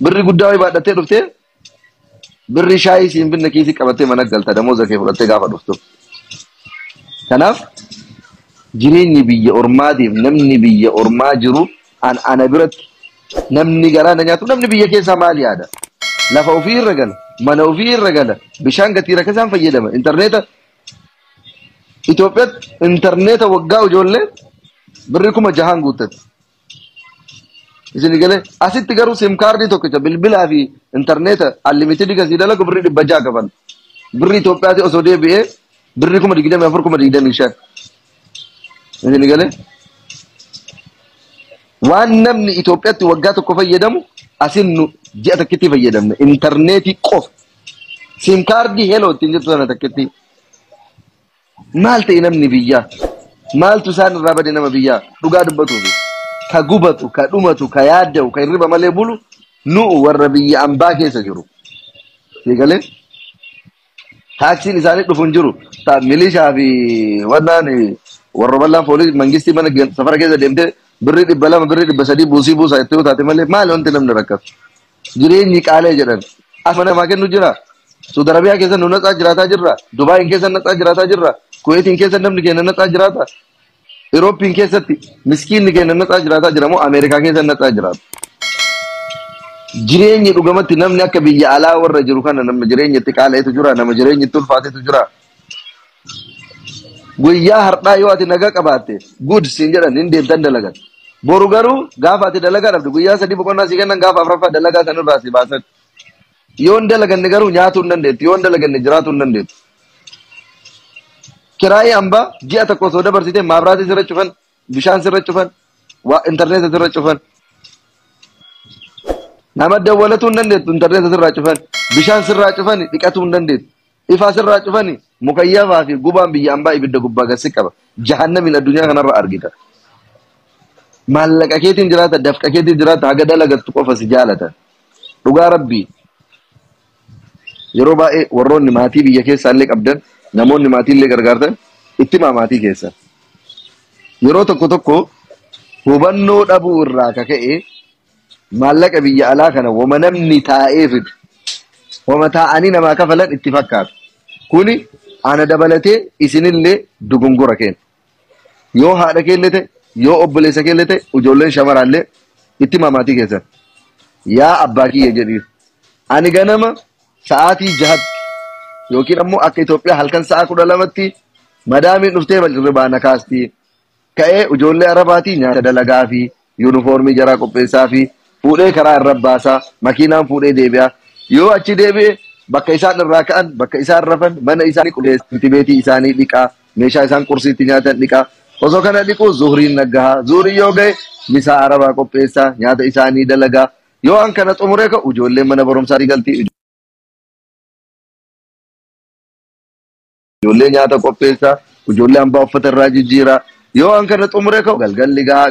Birri guddaa wayii baadhattee dhuftee birri shaayii siin binne kiisii qabattee mana galta damooza kee fudhattee gaafa dhuftu. Kanaaf jireenyi biyya ormaatiif namni biyya ormaa jiru an ana biratti namni garaa na nyaatu namni biyya keessaa maal yaada? Lafa ofii irra gala, mana ofii irra gala, bishaan gatii rakkasaan fayyadama, intarneeta Itoophiyaatti intarneeta waggaa ijoollee birri kuma jahaan guuttatti. Isin galee asitti garuu sim kaardii tokkicha bilbilaa fi intarneeta unlimited kasii dalagu birrii dhibba ja'a kafaltu. Birrii Itoophiyaati osoo deebi'ee birrii kuma digdamii afur kuma digdamii shan. Isin galee waan namni Itoophiyaatti waggaa tokko fayyadamu asin nu ji'a takkitti fayyadamne intarneetii qofa. Sim kaardii heloo ittiin jettu sana takkitti. Maal ta'e namni biyyaa? Maaltu isaan irraa bade nama biyyaa? Dhugaa dubbatuufi. Ka gubatu, ka dhumatu, ka yaadda'u, ka hirriba malee bulu nu'u warra biyya ambaa keessa jiru. Eegalee taaksiin isaanii dhufu hin jiru. Ta milishaa fi wannaan warra bal'aan foolii mangistii mana ge- safara keessa deemtee birrii dhibba lama birrii dhibba sadii buusii buusaa itti yoo taate malee maali wanti namni rakkatu? Jireenyi qaala'e jedhan. Afan namaa kennu jira. Saudi Arabiyaa keessa nu natsaa jiraataa jirra. Dubaayin keessa natsaa jiraataa jirra. Kuweetiin keessa namni keenya natsaa jiraata. Iroopiin keessatti miskiinni keenya natsaa jiraataa jira moo Ameerikaa keessa natsaa jiraata. Jireenyi dhugamatti namni akka biyya alaa warra jiru kana nama jireenyi itti qaala'etu jira. Nama jireenyi itti ulfaatetu jira. Guyyaa har'aa yoo ati nagaa qabaatte good siin jedhan hin deemtan dalagan. Boru garuu gaafa ati dalagaa dhabde guyyaa sadii boqonnaa si kennan gaafa afraffaa dalagaa sanirraa si baasan. Yoo hin dalaganne garuu nyaatuu hin dandeettu. Yoo hin dalaganne jiraatuu hin dandeettu. Kiraayii hambaa ji'a tokko osoo dabarsitee maabiraatii sirra cufan, bishaan sirra cufan, waa intarneeta sirra cufan. Nama dawwalatuu hin dandeettu intarneeta sirraa cufan, bishaan sirraa cufan dhiqatuu hin dandeettu. Ifaa sirraa cufani mukayyafaa fi gubaan biyya ambaa ibidda gubbaa gad si qaba. Jahannamiin addunyaa kanarra argita. Maallaqa keetiin jiraata, dafqa keetiin jiraata, haga dalagattu qofa si jaalatan. Dhugaa rabbii yeroo baay'ee warroonni maatii biyya keessaa illee qabdan, namoonni maatii illee gargaartan itti himaa maatii keessan. Yeroo tokko tokko hubannoo dhabuu irraa ka ka'e maallaqa biyya alaa kana woma namni taa'ee fidu woma taa'anii namaa kafalan itti fakkaatu kuni ana dabalatee isinillee dogongora keenya yoo haadha keellee ta'e yoo obboleessa keellee ta'e ijoolleen shamaraallee itti mamaatii keessan yaa abbaa kiyya jedhiif ani ganama sa'aatii jahatti yookiin ammoo akka Itoophiyaa halkan sa'a kudha lamatti madaamiin dhuftee bal'irribaa na kaastii ka'ee ijoollee Arabaatii nyaata dalagaafii, yuunifoormii jaraa qopheessaafii, fuudhee karaa irra baasa, makiinaan fuudhee deebi'a. Yoo achi deebi'e bakka isaan irraa ka'an, bakka isaan rafan, mana isaanii qulqulleessa, shintibbeetii isaanii dhiqa, meeshaa isaan qursii itti nyaatan dhiqa. Osoo kana dhiquu zuhriin naggaha. Zuhriin yoo ga'e misaa Arabaa qopheessa, nyaata isaanii dalaga. Yoo waan kana xumuree ka'u ijoolleen mana barumsaatii galti. ijoollee nyaata qopheessaa, ijoollee hambaa uffata irraa jijjiiraa. Yoo an kana xumure ka'u galgalli gahaa.